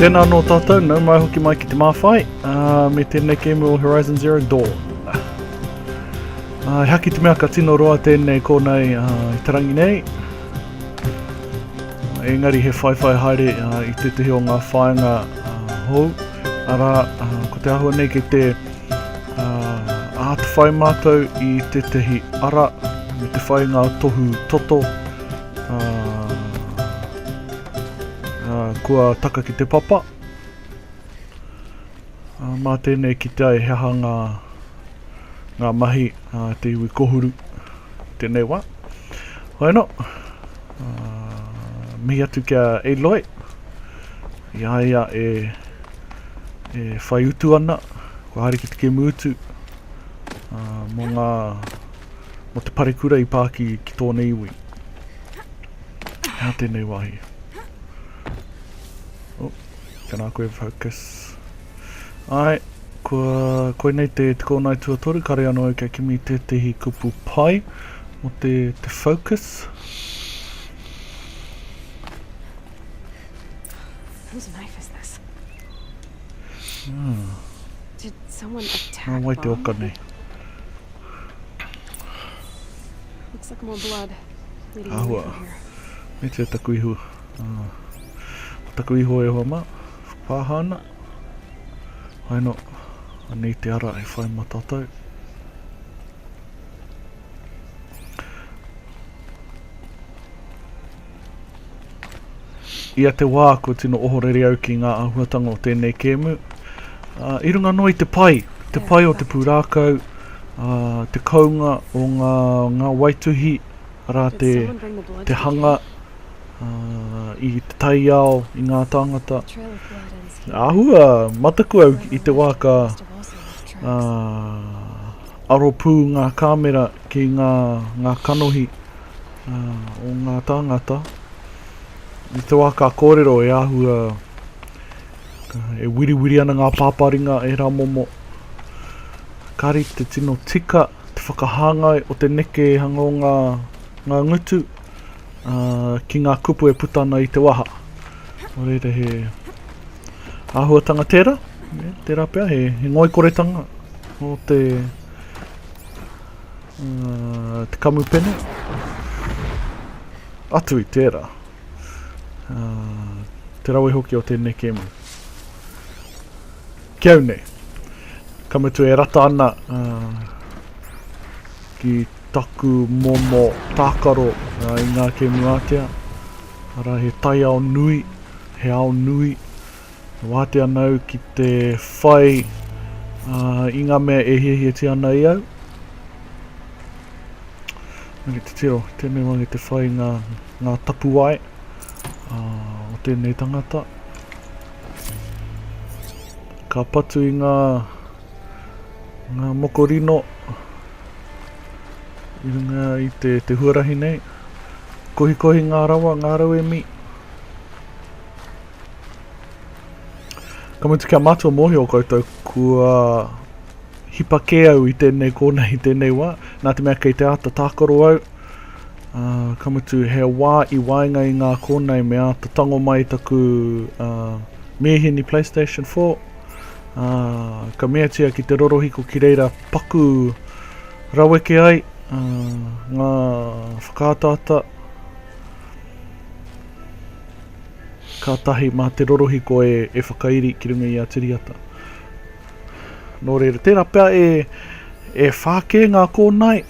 Tēnā anō tātou, nau mai hoki mai ki te māwhai, uh, me tēnei kēmu o Horizon Zero Dawn. Uh, haki te mea ka tino roa tēnei kōnei uh, ah, i tarangi nei. Uh, engari he whaiwhai haere uh, i tētehi o ngā whāinga uh, hou. Ara, uh, ko te ahua nei ke te uh, ātwhai mātou i tētehi ara me te whai ngā tohu toto Kua taka ki te papa. Mā tēnei kitea e he aha ngā, ngā mahi a te iwi kohuru tēnei wā. Hoena, mihi atu kia Eloe, i a ia e, e whai utu ana, kua haere ki te kemu utu, mō ngā mō te parekura i pā ki, ki tōna iwi. He aha tēnei wāhi? Oh, tēnā koe focus. Ai, kua koinei te te kōnai tuatoru, kare anō au kia kimi tētehi kupu pai mō te, te focus. Whose knife is this? Hmm. Did someone attack Mom? Wai te oka nei. Looks like more blood. Ahua. Me tia taku ihu. Uh, taku ihu e hoa ma. Pāha ana. Hai no. Anei te ara e whai matatau. Ia te wā kua tino ohorere au ki ngā āhuatanga o tēnei kēmu. Uh, I runga noa i te pai, te yeah, pai o te pūrākau, uh, te kounga o ngā, ngā waituhi, arā te, te hanga uh, i te taiao, i ngā tāngata. Ahua, mataku au i te wā ka uh, aropū ngā kāmera Ki ngā, ngā kanohi o ngā tāngata i te wā ka kōrero e āhua e wiriwiri ana ngā pāpāringa e Ramomo. Kāri te tino tika te whakahāngai o te nekehanga o ngā, ngā ngutu ki ngā kupu e puta ana i te waha. Nō reira he āhuatanga tērā, tērā pea he, he ngoikoretanga o te, Uh, te kamupene. Atu i tērā. Uh, te rawe hoki o tēnei kēmu. Ki au nei. Ka mutu e rata ana uh, ki taku momo tākaro uh, i ngā kēmu ātea. Ara he taiao nui, he ao nui. E wātea ana au ki te whai uh, i ngā mea e hiahiatia ana i au. Nake te tiro, tēnei wāngi te whai ngā, ngā tapuwae uh, o tēnei tangata. Ka patu i ngā, ngā mokorino i runga i te, te huarahi nei. Kohikohi ngā rawa, ngā rauemi. Ka mutu kia mātua mōhio koutou kua hipa kē au i tēnei kōna i tēnei wā, nā te mea kei te āta tākaro au, uh, ka mutu he wā i waenga i ngā kōna i me āta tango mai taku uh, mīhini PlayStation 4, uh, ka meatia ki te rorohiko ki reira paku raweke ai uh, ngā whakaataata, kātahi mā te rorohiko e whakairi ki runga i a Tiriata. Nō reira, tērā pea e whākē ngā kōnae,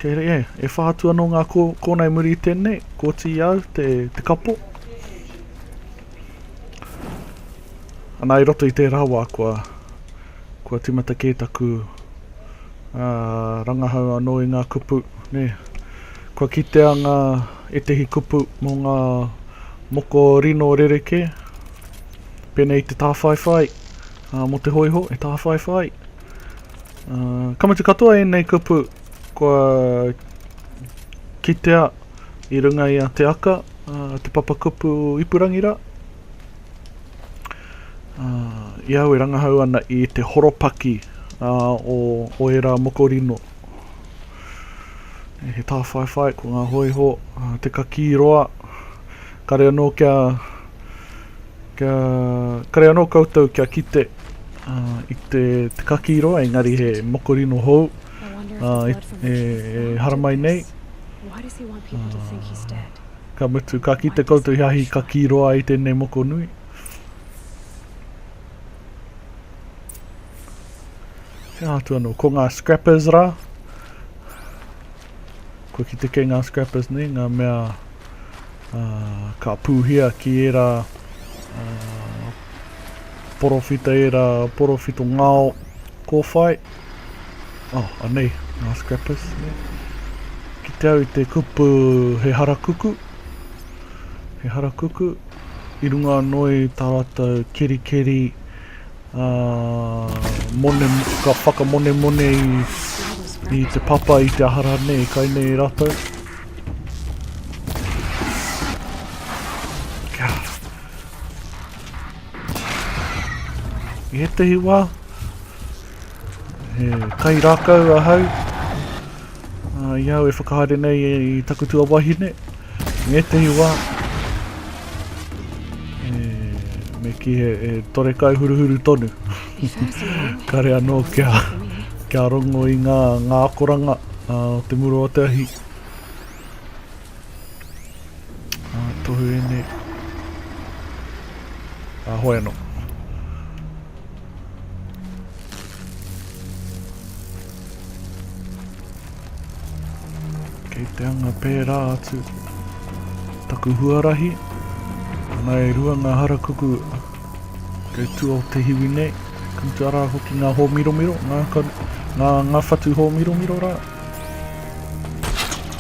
kei rei e, e whā atu anō ngā kōnae muri i tēnei, kōti i au te kapo. Anā, i roto i tērā wā kua tīmata kē taku rangahau anō i ngā kupu, nē. Kua kitea ngā ētehi kupu mō ngā moko rino rerekē, pēnei i te tāwhaiwhai, mō te hōiho e tāwhaiwhai. Ka mutu katoa ēnei kupu kua kitea i runga i a Te Aka, te papakupu ipurangi rā. i au e rangahau ana i te horopaki o, o ērā moko rino. E, he tāwhaiwhai, ko ngā hoiho, te kakī roa, kare anō kia, kia, kare anō koutou kia kite uh, i te, te kakī roa, engari he moko rino hou, uh, e, e haramai nei. Why does he want people to think he's dead? Ka mutu, ka kite koutou he ahi ka kī roa ai tēnei moko nui. He aha atu anō, ko ngā scrappers rā. Kua kite kei ngā scrappers nei, ngā mea uh, ka pūhia ki ērā uh, porowhita, ērā porowhito ngāo kōwhai. Oh, anei, ngā scrappers, ne? Ki te au i te kupu he harakuku, he harakuku, i runga anō i tā rātou kerikeri, ā, mone, ka whakamonemone i, i te papa, i te ahara, ne, i kai nei rātou. Kia. I ētehi wā, he kai rākau ahau, uh, i au e whakahaere nei e, i taku tua wahine, i ētehi wā, e, me ki he e tore kai huruhuru tonu. Kare anō kia, kia rongo i ngā, ngā akoranga uh, o te muro o te ahi. Ā, tohu ēnei. Ā, hoi anō. Kei te anga pērā atu. Taku huarahi. Ana e rua ngā harakuku kei tua o te hiwi nei. Kam te ara hoki ngā hōmiromiro, ngā, ngā, ngā whatu hōmiromiro rā.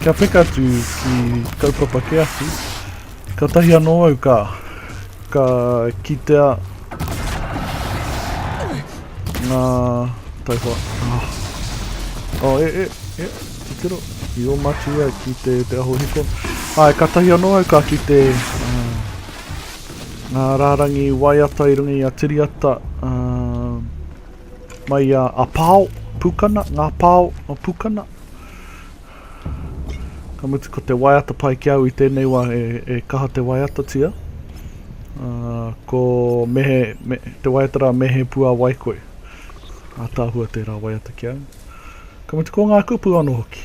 Kia peka atu ki kaupapa ke awhi, katahi anō au ka, ka kitea ngā taihoa. Oh. Oh, e, e, e, te tiro. I o matia ki te, te aho hiko. Ai, ka tahi anō au ka ki te uh, ngā rārangi waiata i runga i a Tiriata uh, Mai a Apao, Pukana, Nga Pao, no Pukana. Ka mutu ko te waiata pai ki au i tēnei wā e, e kaha te waiatatia. Uh, ko mehe, me, te waiata rā mehe pua wai koe. A tāhua tērā waiata ki au. Ka mutu ko ngā kupu ano hoki.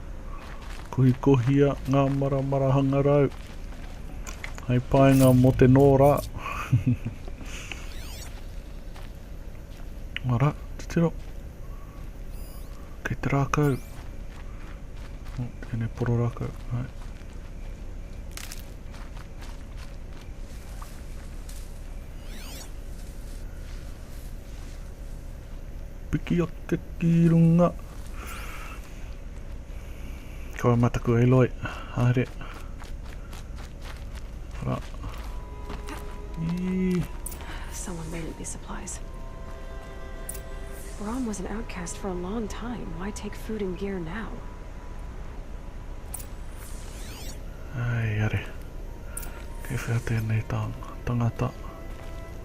Kohikohia ngā maramara hangarau. Hai paenga mo te nō rā. Mara, titiro. Kei te rākau. Tēnei poro rākau. Hai. Piki ake ki runga. Kawa mataku e loi. Haere. Ra. I. Someone made it these supplies. Brom was an outcast for a long time. Why take food and gear now? Ai, are. Kei whea tēnei tāng, tangata. Tangata.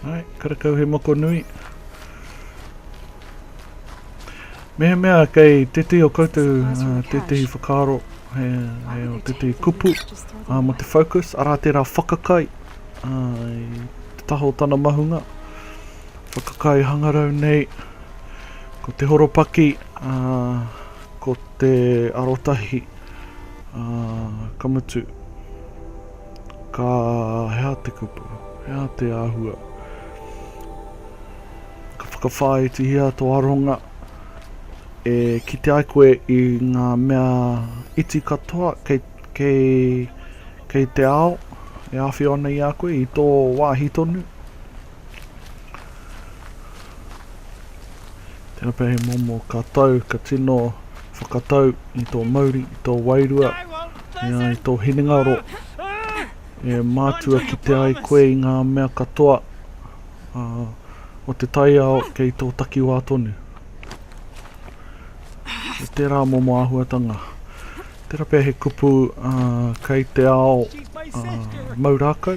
Hai, karakau he moko nui. Mea mea kei tētehi o koutou, uh, tētehi whakaaro, he, he o tētehi kupu, uh, mo te focus, arā tērā whakakai, uh, i te taho tana mahunga, whakakai hangarau nei, ko te horopaki, uh, Ko te arotahi, ā, ka mutu, ka, he aha te kupu, he aha te āhua? Ka whakawhāitihia tō aronga e kite ai koe i ngā mea iti katoa kei, kei, kei te ao e āwhio ana i a koe, i tō wāhi tonu. Tēnā pea he momo ka tau, ka tino whakatau i tō mauri, i tō wairua, i a i tō hinengaro. E mātua ki te ai koe i ngā mea katoa uh, o te taiao kei tō takiwā tonu. E tērā momo āhuatanga. Tērā pea he kupu uh, kei te ao uh, maurākau.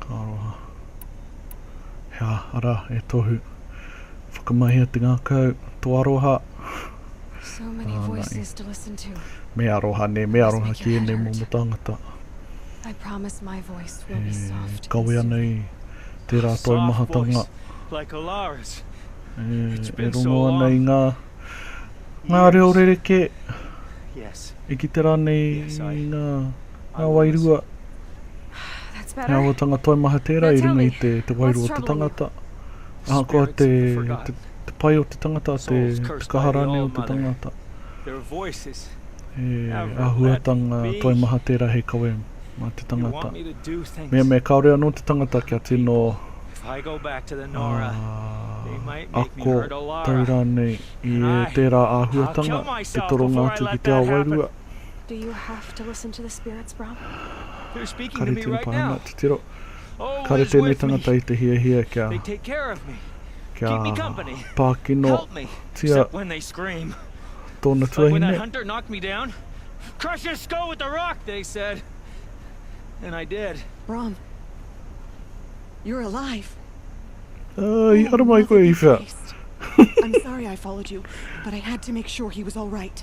Ka aroha. Hea, ara, e Tohu. Whakamahia te ngakau, to aroha. So many ah, voices to listen to. Me aroha ne, me aroha ki ēnei momo tangata. I promise my voice will be soft. Kawe ana i tērā oh, taumahatanga. Like Alara's. E, e rongo ana i ngā, ngā reo rereke. Yes. E ki te rā nei yes, I... ngā Ngā wairua, ngā wātanga toimaha tērā i runga i te wairua o te tangata. Ahakoa te pai o te tangata, te kaha rānei o te tangata, he āhuatanga toimaha tērā hei kawe mā te tangata. Mea me kāore anō te tangata kia tino ako tau rānei i tērā āhuatanga, te toronga atu ki te ao wairua, Do you have to listen to the spirits, bro? They're speaking to me right now. Oh, Kare tēnei tangata i te hiahia kia, kia pākino tia tōna tuahine. Crush his skull with a rock, they said. And I did. Brom, you're alive. Uh, i oh, aramai koe i whea. I'm sorry I followed you, but I had to make sure he was all right.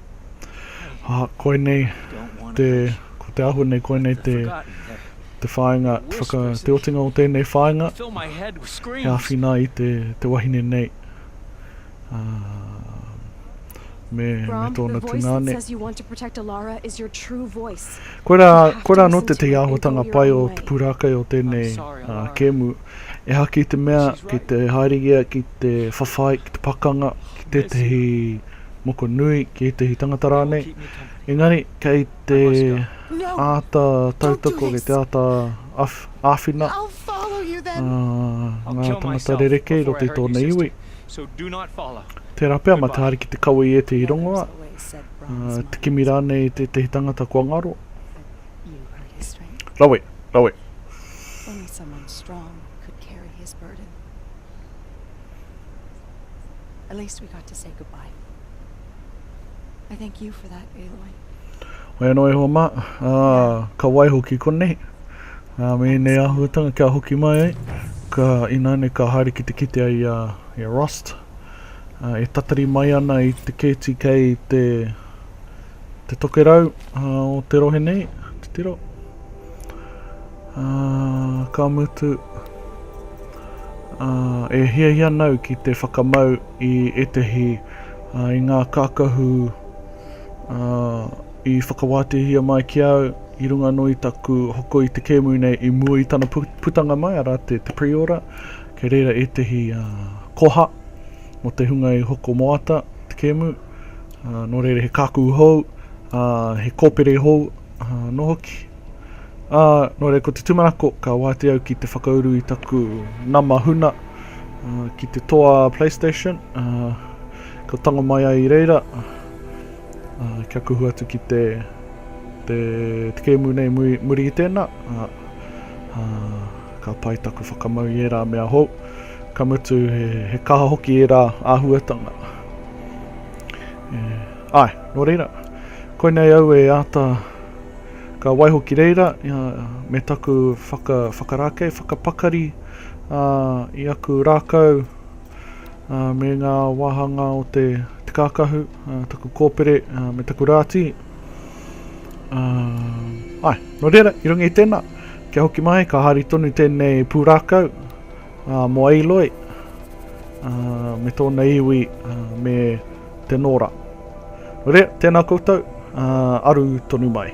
Aha, koinei te, ko te āhua nei koinei te, te whāinga, whaka, te otinga o tēnei whāinga, he āwhina i te, te wahine nei, ā, me, me tōna tungāne. Koirā, koirā anō tētahi āhuatanga pai o te pūrākei o tēnei, ā, kēmu. Ehaki i te mea, ki te haereia ki te whawhai, ki te pakanga, ki tētahi. moko nui ki ētahi tangata rānei, engari kei te āta tautoko, kei te āta āwhina ngā tangata rerekē i roto i tōna iwi. Tērā pea, mā te Ariki te kawe i ētahi rongoā, te kimi rānei i tētahi tangata kua ngaro. Rawe, rawe. At least we got to say goodbye. I thank you for that, Eloi. Hoi anō e hoa mā, ā, ka waiho ki konei. Ā, me nei āhuatanga kia hoki mai ai, ka ināne ka haere ki te kite ai a, i a Rost. Ā, e tatari mai ana i te kēti kei te te tokerau uh, o te rohe nei, te tiro. Uh, ka mutu, uh, e hiahia nau ki te whakamau i etehi uh, i ngā kākahu uh, i whakawātehia mai ki au i runga no i taku hoko i te kēmu nei i mua i tana putanga mai, ara te, te pre-order, kei reira etehi uh, koha mo te hunga i hoko moata te kēmu, uh, nō reira he kākū hou, uh, he kōpere hou, uh, nō hoki. Uh, nō reira ko te tumanako, ka wāte au ki te whakauru i taku nama huna uh, ki te toa PlayStation, uh, ka tango mai ai i reira, uh, kia kuhu atu ki te, te, te kēmu nei muri, muri i tēnā, uh, uh, ka pai taku whakamau i ērā mea hou, ka mutu he, he kaha hoki ērā āhuatanga. Yeah. Ai, nō reira, koinei au e āta ka waiho ki reira uh, me taku whaka, whakarākei, whakapakari uh, i aku rākau uh, me ngā wāhanga o te, te kākahu, uh, taku kōpere uh, me taku rāti. Uh, ai, nō reira, i runga i tēnā, kia hoki mai, ka hari tonu tēnei pūrākau, Ā, mō Eiloi, ā, me tōna iwi, ā, me te Nora. Rea, tēnā koutou, ā, aru tonu mai.